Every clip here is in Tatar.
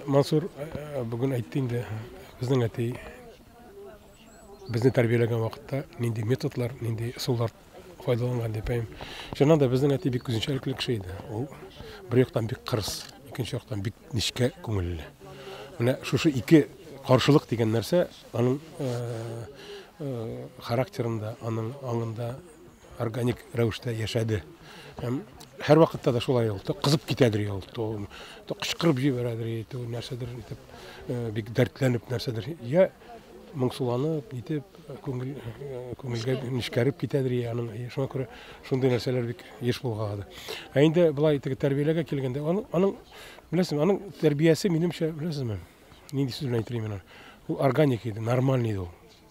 Мансур э, э, бүген әйтте инде, безнең әти безне тәрбияләгән вакытта нинди методлар, нинди ысуллар файдаланган дип әйм. Шуннан да безнең әти бик үзенчәлекле кеше иде. Ул бер яктан бик кырыс, икенче яктан бик нечкә күңелле. Менә шушы ике каршылык дигән нәрсә аның э, характерында, аның аңында Органик рәвештә яшәде. Һәм һәрвакытта да шулай ул. То кызып китәдер ул, то, то кычкырып җибәрәдер, то нәрсәдер итеп, э, бик дәртләнеп нәрсәдер. Я моңсуланып, нитеп, күңел, э, күңелгә нечкәреп китәдер, я аның. Э, шуңа күрә шундый нәрсәләр бик еш булгады. Ә инде былай итеп тәрбияләргә килгәндә, аның, аның беләсезме, аның тәрбиясе минемчә, беләсезме, нинди сүз белән әйтергә мин аны? Ул органик иде, нормальный иде ул.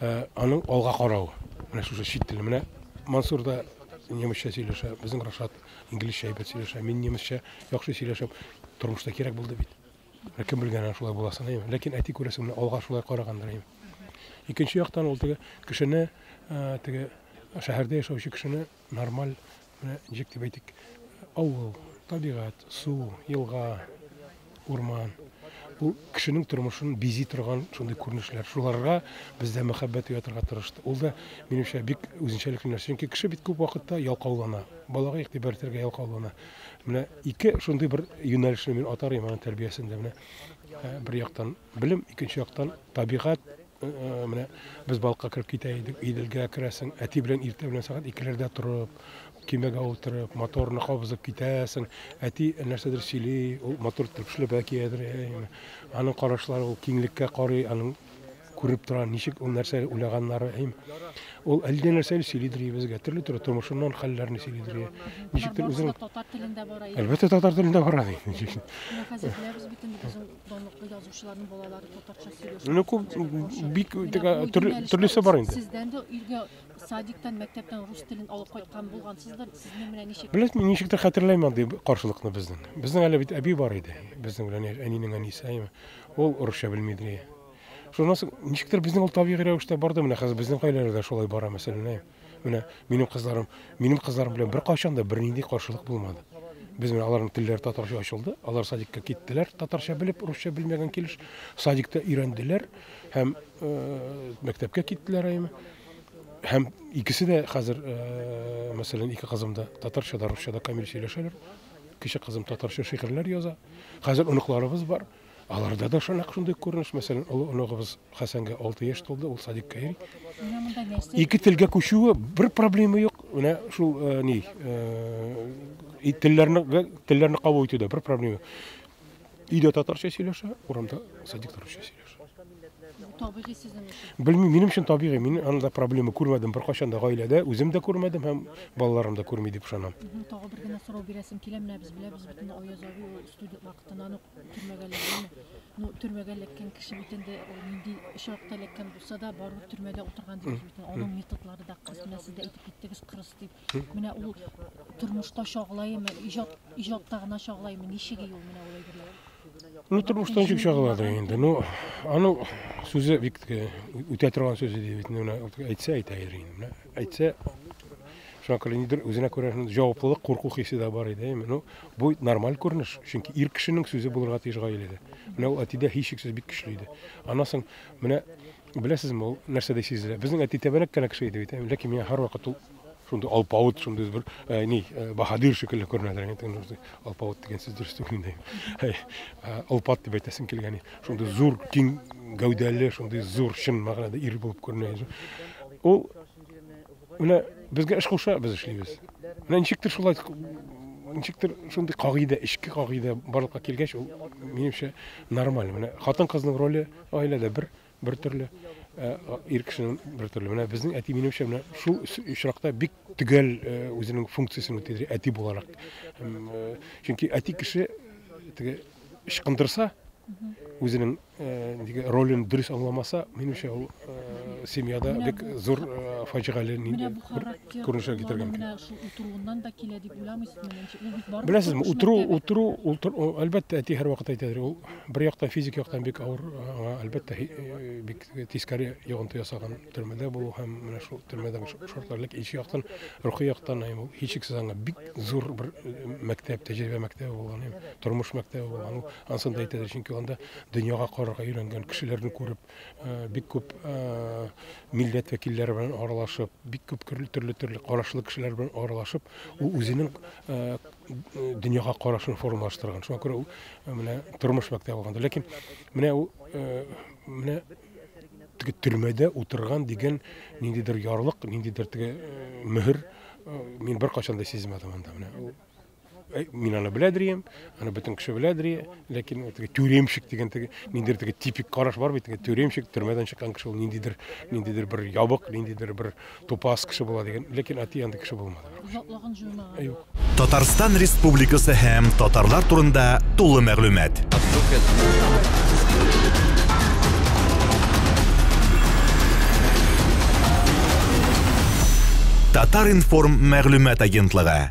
Ә аның алга каравы, менә шушы чит теле. Менә Мансур да немецчә сөйләшә, безнең Рашат инглизчә әйбәт сөйләшә, мин немецчә яхшы сөйләшәм. Тормышта кирәк булды бит. Ә кем белгән аны шулай буласын, әйеме? Ләкин әти күрәсең, менә алга шулай карагандыр, әйеме? Икенче яктан ул теге кешене, теге шәһәрдә яшәүче кешене Нормаль, менә ничек дип әйтик, авыл, табигать, су, елга, урман. Бу кешенең тормышын бизи торган шундый күренешләр. Шуларга бездә мәхәббәт уятырга тырышты. Ул да, минемчә, бик үзенчәлекле нәрсә. Чөнки кеше бит күп вакытта ялкаулана. Балага игътибар итәргә ялкаулана. Менә ике шундый бер юнәлешне мин атар идем аның тәрбиясендә. Менә бер яктан белем, икенче яктан табигать, Менә без балыкка кереп китә идек, Иделгә керәсең, әти белән иртә белән сәгать икеләрдә торып, кимәгә утырып, моторны кабызып китәсең. Әти нәрсәдер сөйли, ул мотор тырпышлап әкиядер. Аның карашлары ул киңлеккә карый, аның күреп тора, ничек ул нәрсә уйлаганнары. Ул әллә нәрсә сөйлидер безгә, төрле төрле тормышыннан хәлләрне сөйлидер. Ничектер үзең татар телендә бара. Әлбәттә татар телендә бара. Ничек? Хәзер бөтен Данлыклы язучыларның балалары татарча сөйләшә. Ну, күп, бик төрлесе бар инде. Сездән дә иргә садиктан, мәктәптән рус телен алып кайткан булгансыздыр. Сезнең белән ничек? Беләсме, ничек тә хәтерләйм андый каршылыкны безнең. Безнең әле бит әби бар иде. Безнең белән әнинең әнисе, әйме. Ул русча белми иде. Шуннан соң ничектер безнең ул табигый рәвештә барды. Менә хәзер безнең гаиләдә дә шулай бара мәсәлән. Менә минем кызларым, минем кызларым белән беркайчан да бернинди каршылык булмады. Без менә аларның телләре татарча ачылды, алар садикка киттеләр, татарча белеп, русча белмәгән килеш, садикта өйрәнделәр һәм э, мәктәпкә киттеләр әйме. Һәм икесе дә хәзер, э, мәсәлән, ике кызым да татарча да, русча да камил сөйләшәләр. Кече кызым татарча шигырьләр яза. Хәзер оныкларыбыз бар. Аларда да шунак шундый күренеш, мәсәлән, олы оныгыбыз Хәсәнгә 6 яшь тулды, ул садикка йөри. Ике телгә күчүе бер проблема юк. Менә шул э, ни, э, телләрне телләрне кабул итүдә бер проблема. Өйдә татарча сөйләшә, урамда садикта русча сөйләшә. Табигый сезнең өчен. Белмим, минем өчен табигый. Мин анда проблема күрмәдем беркайчан да гаиләдә, үзем дә күрмәдем һәм балаларым да күрми дип ышанам. Тагы бер генә сорау бирәсем килә, менә без беләбез бит инде Аяз абый ул студент вакытыннан ук Төрмәгә эләгәме? Ну, төрмәгә эләккән кеше бит инде ул нинди очракта эләккән булса да, барыбер төрмәдә утырган дигез бит. Аның методлары да кырыс, менә сез дә әйтеп киттегез, кырыс дип. Менә ул тормышта чагылаймы, иҗат иҗатта гына чагылаймы, ничек ул менә ул әйберләр? Ну, тормышта ничек чагылады инде. Ну, аның сүзе бик үтә торган сүзе дип әйтсә әйтә инде. Әйтсә, шуңа күрә нидер үзенә күрә җаваплылык, курку хисе дә бар иде. Әйме, ну, бу нормаль күренеш, чөнки ир кешенең сүзе булырга тиеш гаиләдә. Менә ул әтидә һичшиксез бик көчле иде. Аннан соң менә беләсезме, ул нәрсәдә сизелә? Безнең әти тәбәнәк кенә кеше иде бит, әйме, ләкин миңа һәрвакыт ул шундый алпавыт, шундый бер э, ни, э, баһадир шикелле күренәдер. Әйме, теге шундый алпавыт дигән сүз дөрес түгел инде. Әй, э, Олпат дип әйтәсем килгән. Шундый зур, киң гәүдәле, шундый зур чын мәгънәдә ир булып күренә. Ул менә безгә эш куша, без эшлибез. Менә ничектер шулай ничектер шундый кагыйдә, эчке кагыйдә барлыкка килгәч, ул минемчә нормаль. Менә хатын-кызның роле гаиләдә бер бер төрле, э, ир кешенең бер төрле. Менә безнең әти минемчә менә шул очракта бик төгәл э, үзенең функциясен үтәде әти буларак. Э, чөнки әти кеше теге ычкындырса, үзенең э, ролен дөрес аңламаса, минемчә ул э, семьяда бик зур э, фаҗигале күренешкә китергән. Менә шул утыруыннан да килә дип уйламыйсызмы? Беләсезме, утыру, утыру, утыру, әлбәттә, әти һәрвакыт әйтәдер, ул бер яктан физик яктан бик авыр, аңа әлбәттә бик Тискәре йогынты ясаган төрмәдә булу һәм менә шул төрмәдәге шартлар, ләкин икенче яктан, рухи яктан һәм ул һичшиксез аңа бик зур бер э, мәктәп, тәҗрибә мәктәбе булган, һәм тормыш мәктәбе булган. Ул ансын да әйтәләр, чөнки анда дөньяга карарга өйрәнгән, кешеләрне күреп, э, бик күп э, милләт вәкилләре белән аралашып, бик күп төрле төрле карашлы кешеләр белән аралашып, ул үзенең э, дөньяга карашын формалаштырган шуңа күрә ул э, менә тормыш мәктәбе алганда ләкин менә ул э, менә теге төрмәдә утырган дигән ниндидер ярлык ниндидер теге э, мөһер мин беркайчан да сизмәдем анда менә ул мин аны белә дирем аны бөтен кеше белә дия ләкин теге тюремщик дигән теге ниндидер теге типик караш бар бит теге тюремщик төрмәдән чыккан кеше ул ниндидер ниндидер бер ябык ниндидер бер тупас кеше була дигән, ләкин әти андый кеше булмады. Озаклаган җыймаган. Юк. Татарстан Республикасы һәм татарлар турында тулы мәгълүмат. Татар информ мәгълүмат агентлыгы.